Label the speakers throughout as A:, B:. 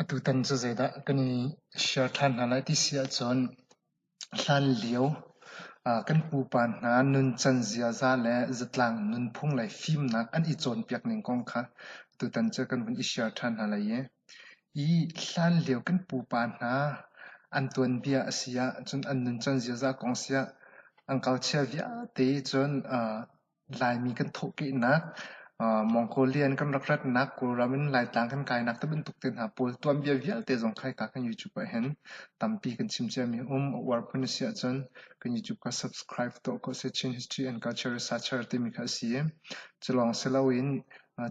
A: Atu tan cu zeidah kan i share ṭhan hna lai ti si ahcun Hlanlio ah kan pupa hna nuncan ziaza le zatlang nunphung lei fimnak an i cawnpiak ning kong kha tutan cu kan vun i share ṭhan hna lai i i hlanlio kan pupa hna an tuanbia a si ahcun an nuncan ziaza kong si ah an kalchia vialte cun Laimi kan thawhkehnak, Mongolian kan rak ratnak, Kawlram in Laitlang kan kainak tibantuk te hna pawl tuanbia vialte zong khaika kan YouTube ahhin tampi kan chim ciami a um. A uar phun a si ahcun kan YouTube kha subscribe tuah ko seh. Chin History and Culture Researcher timi kha a si i, culawng si loin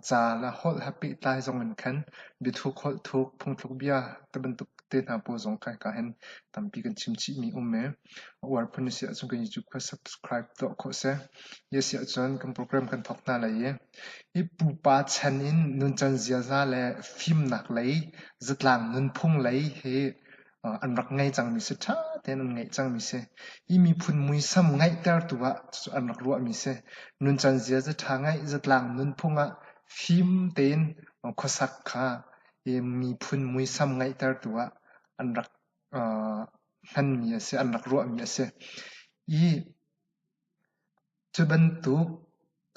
A: Caal a holh he pehtlai zong in khan biathuk holh thuk, phungthluk bia ti bantuk te hna pawl zong kai ka hen. Tampi kan chim chih mi a um ee. A uar phun na si ahcun kan YouTube kha subscribe tuah khawh seh. Hi a si ahcun kan program kan thawk hna lai i, i pupa chan in nuncan ziaza le fimnak lei zatlang nunphung lei hi an rak ngei cangmi si, ṭha tein an ngeih cangmi si. Hi miphun muisam ngeihtertu ah cucu an rak ruahmi si. Nuncan ziaza ṭha ngeih, zatlang nunphung ah fim tein khuasak kha hi miphun muisam ngeihtertu ah an rak hmanmi a si, an rak ruahmi a si. Hi Cu bantuk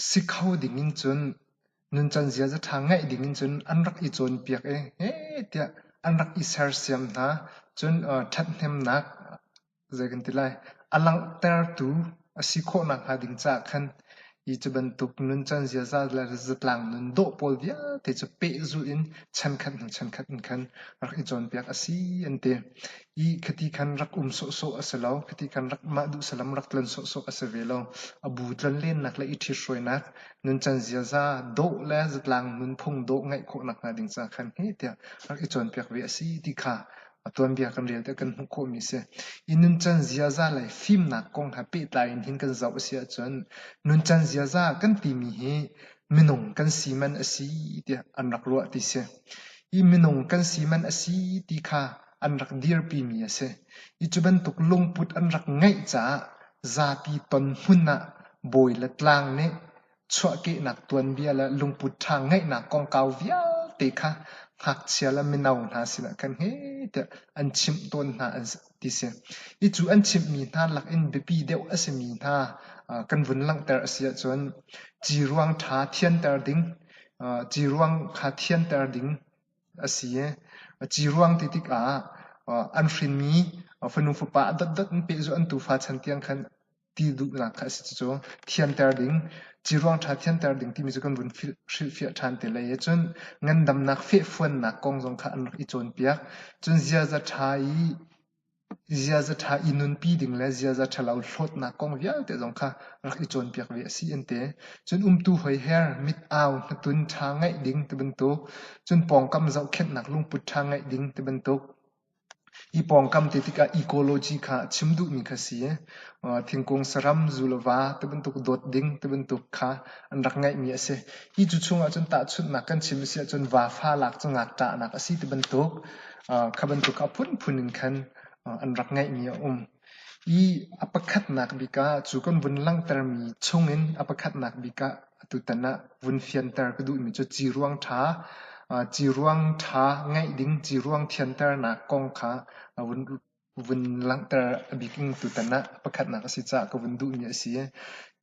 A: si kho ding in cun nuncan ziaza ṭha ngeih ding in cun an rak i cawnpiak i he tiah an rak i sersiam hna. Cun ṭhathnemnak zei kan ti lai a langhtertu a si khawh nakhnga ding caah khan hi cu bantuk nuncan ziaza le zatlang nun dawh pawl vialte cu pehzulh in chankhat hnu chankhat in khan rak i cawnpiak a si an ti. Ih khati khan rak um sawhsawh a si lo, khati khan mah duhsalam rak tlon sawhsawh a si ve lo. A bu tlonlennak le i ṭhithruainak, nuncan ziaza, dawh le zatlang nunphung dawh ngeih khawhnak hnga ding caah khan heh tiah rak i cawnpiak ve a si ti kha a tuanbia kan rel tiah kan hmuh khawhmi a si. I nuncan ziaza le fimnak kong he pehtlai in hin kan zoh a si ahcun nuncan ziaza kan timi hi minung kan si man a si tiah an rak ruah ti si. Hi minung kan si man a si ti kha an rak dirpimi a si. I cu bantuk lungput an rak ngeih caah zapi ton hmun ah bawi le tlang nih chuahkehnak tuanbia le lungput ṭha ngeihnak kongkau vialte kha ngakchia le mino hna sinah kan he tiah an chimh tawn hna an ti si. I cu an chimhmi hna lak in biapi deuh a simi hna kan vun langhter a si ahcun ci ruang ṭha thianter ding, ci ruang kha thianter ding, a si. A ci ruang ti tikah an hrinmi fanu fapa a dotdot in pehzulh an tufa chan tiang khan ti duhnak kha a si. Cucu thianter ding, ci ruang ṭha thianter ding timi cu kan vun hrilhfiah ṭhan te lai ahcun ngandamnak fehfuannak kong zong kha an rak i cawnpiak. Cun ziaza ṭha i ziaza ṭha i nunpi ding le ziaza ṭhalo hlawtnak kong vialte zong kha rak i cawnpiak ve a si an ti. Cun umtu hoiher, mit au, hnatun ṭha ngeih ding ti bantuk, cun pawngkam zohkhenhnak lungput ṭha ngeih ding ti bantuk, hi pawngkam ti tikah ecology kha a chim duhmi kha si. Thingkung saram, zulava ti bantuk dawt ding ti bantuk kha an rak ngeihmi a si. Hi cu chung ahcun tahchunhnak kan chim a si ahcun vafa lak cu ngakṭahnak a si ti bantuk, Kha bantuk ah phunphun in khan an rak ngeihmi a um. I a pakhatnak bik ah cu kan vun langhtermi chungin a pakhatnak bik ah atutan ah vun fianter ka duhmi cu ciruang ṭha, ciruang ṭha ngeih ding, ciruang thianternak kong kha a vun vun langhter a bikin tutan ah pakhatnak a si caah ka vun duhmi a si.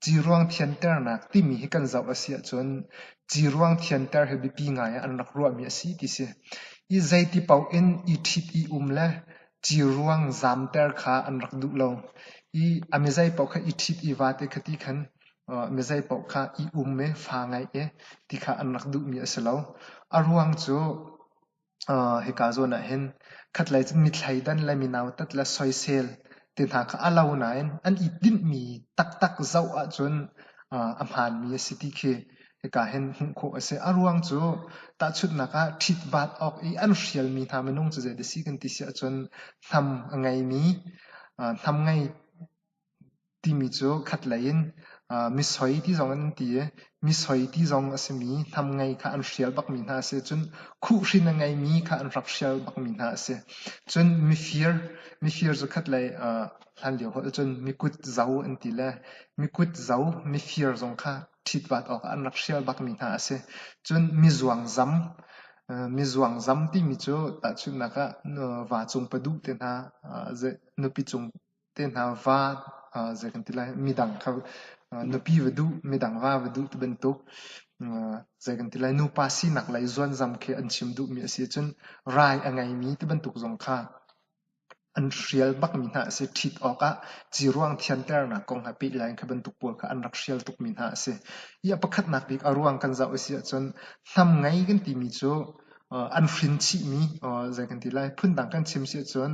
A: Ciruang thianternak timi hi kan zoh a si ahcun ciruang thianter hi biapi ngai ah an rak ruahmi a si ti si. I zeiti paoh in i ṭhit i um le ciruang zamter kha an rak duh lo. I a mizei paoh kha i ṭhit i vaate kha ti khan mizei paoh kha i um e, fa ngai e ti kha an rak duhmi a si lo. A ruang cu hika zawn ah hin khatlei cun mithleidan le minautat le soisel te hna kha a lo nain an i dinhmi taktak zoh ahcun a hmaanmi a si ti khi hika hin hmuh khawh a si. A ruang cu tahchunhnak ah ṭhitbaat awk i an hrialmi hna minung cu zeidah a si kan ti si ahcun hnam a ngeimi hnam ngei timi cu khatlei in misoi ti zong in an ti i misoi ti zong a simi hnamngei kha an hrial bakmi hna a si cun khuhhrin a ngeimi kha an rak hrial bakmi hna a si cun mifir mifir cu khatlei hlanlio holh ahcun mikut zo an ti le mikut zo mifir zong kha ṭhitvat awkah an rak hrial bakmi hna a si cun mizuang zam mizuang zam timi cu tahchunhnak ah va cung paduh te hna nupi cung te hna va uh, zei kan ti lai midang kha uh, nupi va duh midang va va duh ti bantuk uh, zei kan ti lai nupa sinak lei zuanzam khi an chim duhmi a si cun rai a ngeimi ti bantuk zong kha an hrial bakmi hna a si ṭhit awkah ci ruang thianternak kong ha peh lai kha bantuk pawl kha an rak hrial tukmi hna a si i a pakhatnak bik a ruang kan zoh a si ahcun hnam ngei kan timi cu uh, an hrin chihmi uh, zei kan ti lai phundang kan chim si ahcun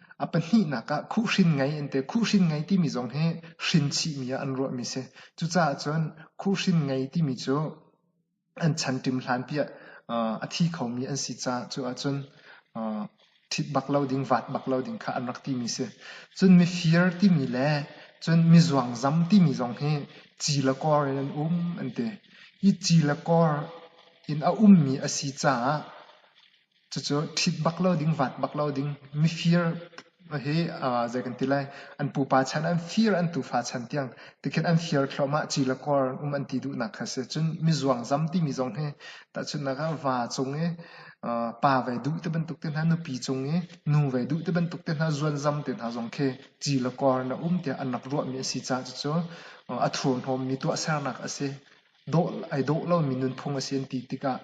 A: A pahnihnak ah khuhhrin ngei an ti. Khuhhrin ngei timi zong hi hrinchihmi ah an ruahmi si. Cucaah cun khuhhrin ngei timi cu an chan ṭim hlanpi ah a thi khomi an si caah cu ahcun ṭhit bak lo ding, vaat bak lo ding kha an rak timi si. Cun mifir timi le cun mizuangzam timi zong hi ci le kor in an um an ti. Hi ci le kor in a ummi a si caah Cucu ṭhit bak lo ding, vaat bak lo ding, mifir hi zei kan ti lai, an pupa chan, an fir an tufa chan tiang tikhin an fir thluahmah, ci le kor um an ti duhnak kha a si. Cun mizuang zam timi zong hi tahchunhnak ah va cung i pa ve duh ti bantuk te hna, nupi cung i nu ve duh ti bantuk te hna, zuanzam te hna zong khi ci le kor na um tiah an rak ruahmi a si caah cucu a thurhnawmmi tuahsernak a si. Dawh ai dawh lomi nunphung a si an ti tikah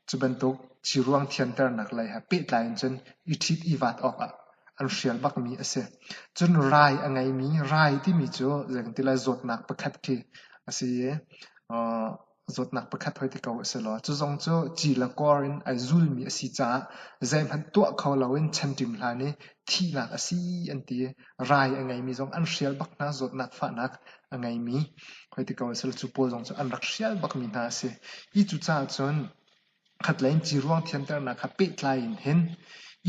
A: Cu bantuk thiruang thianternak lei he pehtlai in cun i ṭhit i vaat awkah an hrial bakmi a si. Cun rai a ngeimi rai timi cu zei kan ti lai zawtnak pakhat khi a si i uh, zawtnak pakhat hoi ti ko a si law cu zong cu ci le kor in ai zulmi a si caah zeihmanh tuah kho loin chan ṭim hlan i thihnak a si an ti. rai a ngeimi zong an hrial bak hna, zawtnak fahnak a ngeimi hoi ti ko a si lo. Cu pawl zong cu an rak hrial bakmi hna a si. Hi cucaah cun khatlei in ciruang thiamternak ha pehtlai in hin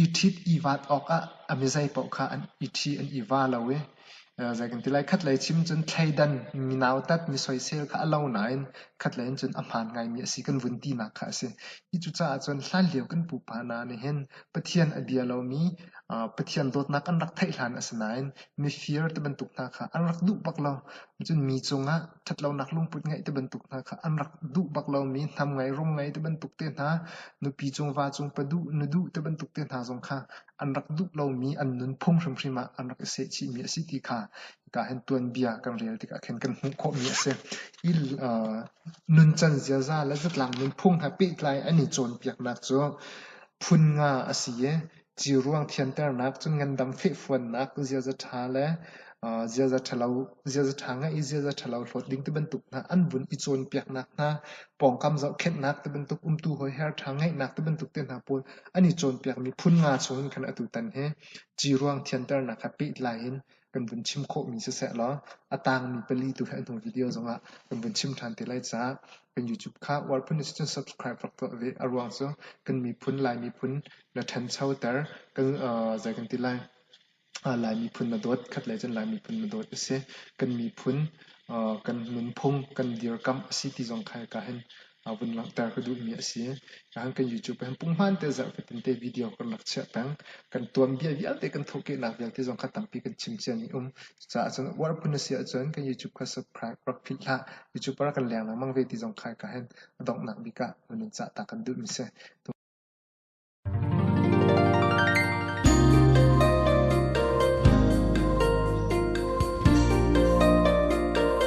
A: i ṭhit i vaat awkah a mizei paoh kha an i ṭhi, an i va lo i eh, zei kan ti lai, khatlei chim cun thleidan mi nautat mi soisel kha a lo nain khatlei in cun a hmaan ngaimi a si kan vun tinak kha a si. Hi cucaah cun hlanlio kan pupa hna nih hin Pathian a bia lomi Pathian dawtnak an rak theih hlan a si nain mifir ti bantuk hna kha an rak duh bak lo. Cun mi cungah ṭhatlonak lungput ngeih ti bantuk hna kha an rak duh bak lomi hnam ngei, rum ngei ti bantuk te hna, nupi cung, va cung pa duh, nu duh ti bantuk te hna zong kha an rak duh lomi an nun phung hrimhrim ah an rak i sehchihmi a si ti kha hika hin tuanbia kan rel tikah khin kan hmuh khawhmi a si. I nuncan ziaza le zatlang nunphung he pehtlai an i cawnpiaknak cu phun nga a si i ciruang thianternak cun ngandam fehfuannak ziaza ṭha le ziaza ṭhalo ziaza ṭha ngeih i ziaza ṭhalo hlawt ding tibantuk hna an vun i cawnpiaknak hna pawngkam zohkhenhnak tibantuk umtu hoiher ṭha ngeihnak tibantuk te hna pawl an i cawnpiakmi phun nga chungin khan atu tan hi ciruang thianternak ha pehtlai in kan vun chim khawhmi siseh law a tangmi pali tu he hnu video zongah kan vun chim ṭhan te lai caah kan YouTube kha Warphun is cun subscribe rak tuah ve a ruang cu kan miphun Lai miphun na ṭhanchoter kan zei kan ti lai Lai miphun na dawt khat le cun Lai miphun na dawt a si kan miphun kan nunphung kan dirkamh a si ti zong kha hika hin a vun langhter ka duhmi a si. Rahan kan YouTube ah hin punghman te zarh fatin te video kan rak chiah peng. Kan tuanbia vialte kan thawhkehnak vialte zong kha tampi kan chim cia ni um. Cucaah cun uar phun a si ahcun kan YouTube kha subscribe rak philh hlah. YouTube ah kan leng lengmang ve ti zong khai ka hen donghnak bik ah nun cah ta kan duhmi si.